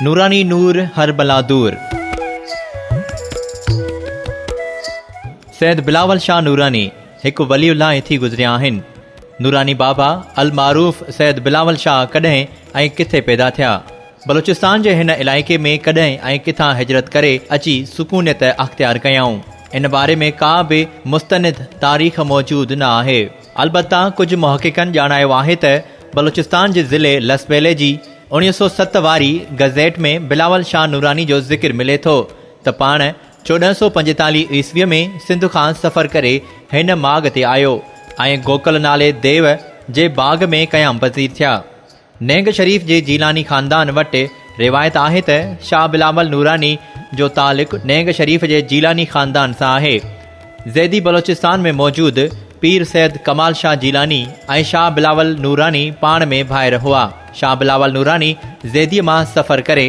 نوراني نور هر بلا دور. سيد بلاول شاھ نوراني هڪ ولي الله هٿي گذريا آهن. نوراني بابا المعروف سيد بلاول شاھ ڪڏهن ۽ ڪٿي پيدا ٿيا؟ بلوچستان جي هن علائقي ۾ ڪڏهن ۽ ڪٿان هجرت ڪري اچي سڪونيت اختيار ڪيائون؟ ان باري ۾ ڪا به مستند تاريخ موجود نه آهي. البته ڪجهه محققن ڄاڻايو آهي ته بلوچستان جي ضلعي لسٻيلي جي اوڻيهه سؤ ست واري گزيٽ ۾ بلاول شاهه نوراني جو ذڪر ملي ٿو ته پاڻ چوڏهن سؤ پنجيتاليهه عيسويء ۾ سنڌ کان سفر ڪري هن ماڳ تي آيو ۽ گوڪل نالي ديو جي باغ ۾ قيام پذير ٿيا. نينگ شريف جي جيلاني خاندان وٽ روايت آهي ته شاهه بلاول نوراني جو تعلق نينگ شريف جي جيلاني خاندان سان آهي. زيدي بلوچستان ۾ موجود پير سيد ڪمال شاهه جيلاني ۽ شاهه بلاول نوراني پاڻ ۾ ڀائر هئا. شاهه بلاول نوراني زيديء مان سفر ڪري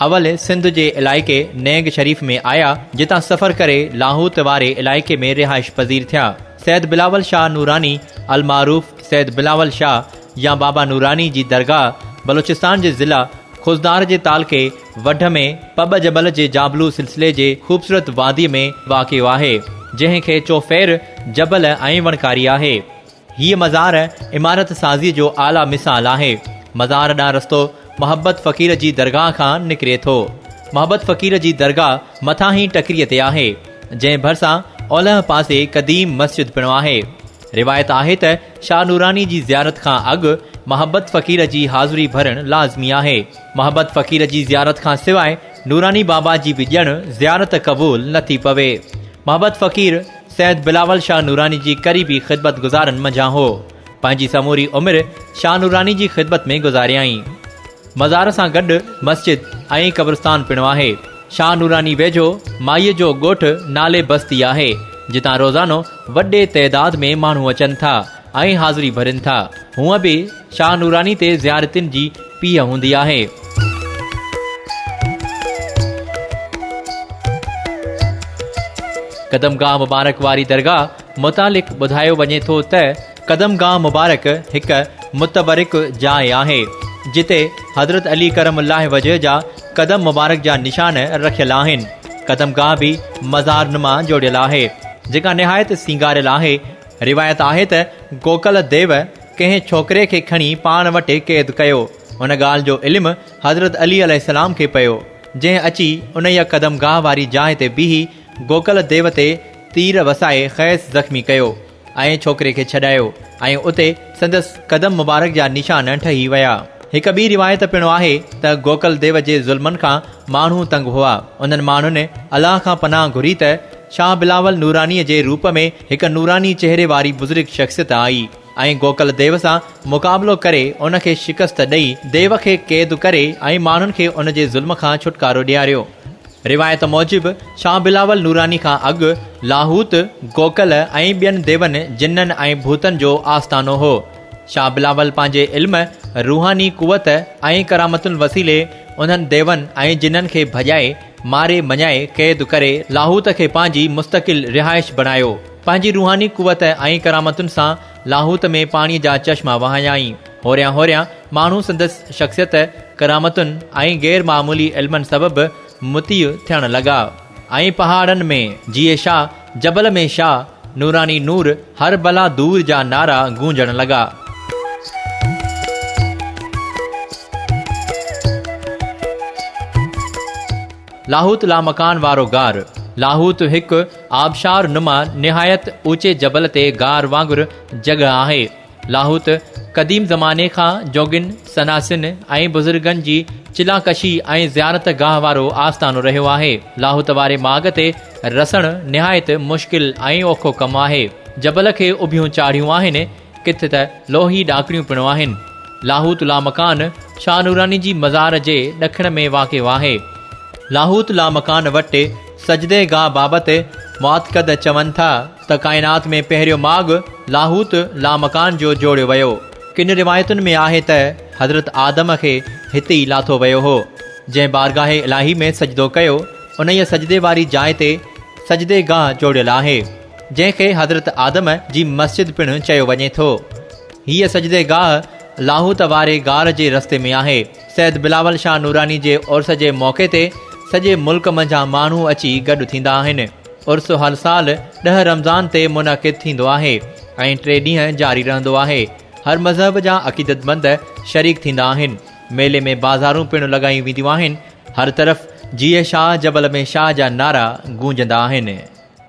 اول سنڌ جي علائقي نينگ شريف ۾ آيا جتان سفر ڪري لاهوت واري علائقي ۾ رهائش پذير ٿيا. سيد بلاول شاهه نوراني المعروف سيد بلاول شاهه يا بابا نوراني جي درگاهه بلوچستان جي ضلع خضدار جي تعلقي وڍ ۾ پٻ جبل جي جابلو سلسلي جي خوبصورت وادي ۾ واقع آهي، جنهن کي چوڦير جبل ۽ وڻڪاري آهي. هيء مزار عمارت سازيء جو اعليٰ مثال آهي. مزار ڏانهن رستو محبت فقير جي درگاهه کان نڪري ٿو. محبت فقير جي درگاهه مٿانهين ٽڪريء تي آهي، جنهن ڀرسان اولهه پاسي قديم مسجد پڻ آهي. روايت آهي ته شاهه نوراني جي زيارت کان اڳ محبت فقير جي حاضري ڀرڻ لازمي آهي. محبت فقير جي زيارت کان سواء نوراني بابا جي به ڄڻ زيارت قبول نه ٿي پوي. محبت فقير سيد بلاول شاهه نوراني جي قريبي خدمت گذارن منجهان هو. پنهنجي سموري عمر شاهه نوراني جي خدمت ۾ گذاريائين. مزار سان گڏ مسجد ۽ قبرستان پڻ آهي. شاهه نوراني ويجهو مائيء جو ڳوٺ نالي بستي آهي، جتان روزانو وڏي تعداد ۾ ماڻهو اچن ٿا ۽ حاضري ڀرين ٿا. هونء به شاهه نوراني تي زيارتين جي پيهه هوندي آهي. قدمگاهه مبارڪ واري درگاهه متعلق ٻڌايو وڃي ٿو ته، قدم گاهه مبارڪ هڪ متبرڪ جاء آهي، جتي حضرت علي ڪرم الله وجهه جا قدم مبارڪ جا نشان رکيل آهن. قدم گاهه به مزار نما جوڙيل آهي، جيڪا نهايت سينگاريل آهي. روايت آهي ته گوڪل ديو ڪنهن ڇوڪري کي کڻي پاڻ وٽ قيد ڪيو، ان ڳالهه جو علم حضرت علي عليه السلام کي پيو، جنهن اچي انهيء قدم گاهه واري جاء تي بيهي گوڪل ديو تي تير وسائي کيس زخمي ڪيو. ۽ ڇوڪري کي ڇڏايو ۽ اتي سندس قدم مبارڪ جا نشان ٺهي ويا. هڪ ٻي روايت پڻ آهي ته گوڪل ديو جي ظلمن کان ماڻهو تنگ هئا. انهن ماڻهن الله کان پناهه گهري ته شاهه بلاول نورانيء جي روپ ۾ هڪ نوراني چهري واري بزرگ شخصيت آئي ۽ گوڪل ديو سان مقابلو ڪري ان کي شڪست ڏئي ديو کي قيد ڪري ۽ ماڻهن کي ان جي ظلم کان ڇوٽڪارو ڏياريو. روايت موجب شاهه بلاول نوراني کان اڳ لاهوت، گوڪل ۽ ٻين ديون، جنن ۽ ڀوتن جو آستانو هو. شاهه بلاول پنهنجي علم، روحاني قوت ۽ ڪرامتن وسيلي انهن ديون ۽ جنن کي ڀڄائي، ماري مڃائي قيد ڪري لاهوت کي پنهنجي مستقل رهائش بڻايو. پنهنجي روحاني قوت ۽ ڪرامتن سان لاهوت ۾ پاڻيء جا چشما وهايائين. هوريان هوريان ماڻهو سندس شخصيت، ڪرامتن ۽ غير معمولي علمن سبب مطيع ٿيڻ لڳا ۽ پهاڙن ۾ جيئي شاهه، جبل ۾ شاهه، نوراني نور، هر بلا دور جا نعرا گونجڻ لڳا. لاهوت لامڪان وارو غار، لاهوت هڪ آبشار نما نهايت اوچي جبل تي غار وانگر جڳهه آهي. لاهوت قديم زماني کان جوڳين، سناسين ۽ بزرگن جي چلان ڪشي ۽ زيارت گاهه وارو آستانو رهيو آهي. لاهوت واري ماڳ تي رسڻ نهايت مشڪل ۽ اوکو ڪم آهي. جبل کي اڀيون چاڙهيون آهن. ڪٿ ته لوهي ڏاڪڻيون پڻ آهن. لاهوت لامڪان شاهه نوراني جي مزار جي ڏکڻ ۾ واقع آهي. لاهوت لامڪان وٽ سجدي گاهه بابت معتقد چون ٿا ته ڪائنات ۾ پهريون ماڳ لاهوت لامڪان جو جوڙيو ويو. ڪن روايتن ۾ آهي ته حضرت آدم کي هتي ئي لاٿو ويو هو. جنهن بارگاهه الاهي ۾ سجدو ڪيو، انهيء سجدي واري جاء تي سجدي گاهه جوڙيل آهي. جنهن کي حضرت آدم جي مسجد پڻ چيو وڃي ٿو. هيء سجدي گاهه لاهوت واري غار جي رستي ۾ آهي. سيد بلاول شاهه نوراني جي عرس جي موقعي تي سڄي ملڪ منجهان ماڻهو اچي گڏ ٿيندا آهن. عرس هر سال ڏهه رمضان تي منعقد ٿيندو آهي ۽ ٽي ڏينهن جاري رهندو آهي. هر مذهب جا عقيدتمند شريڪ ٿيندا آهن. ميلي ۾ بازارون پڻ لڳايون وينديون آهن. هر طرف جيئي شاهه جبل ۾ شاهه جا نعرا گونجندا آهن.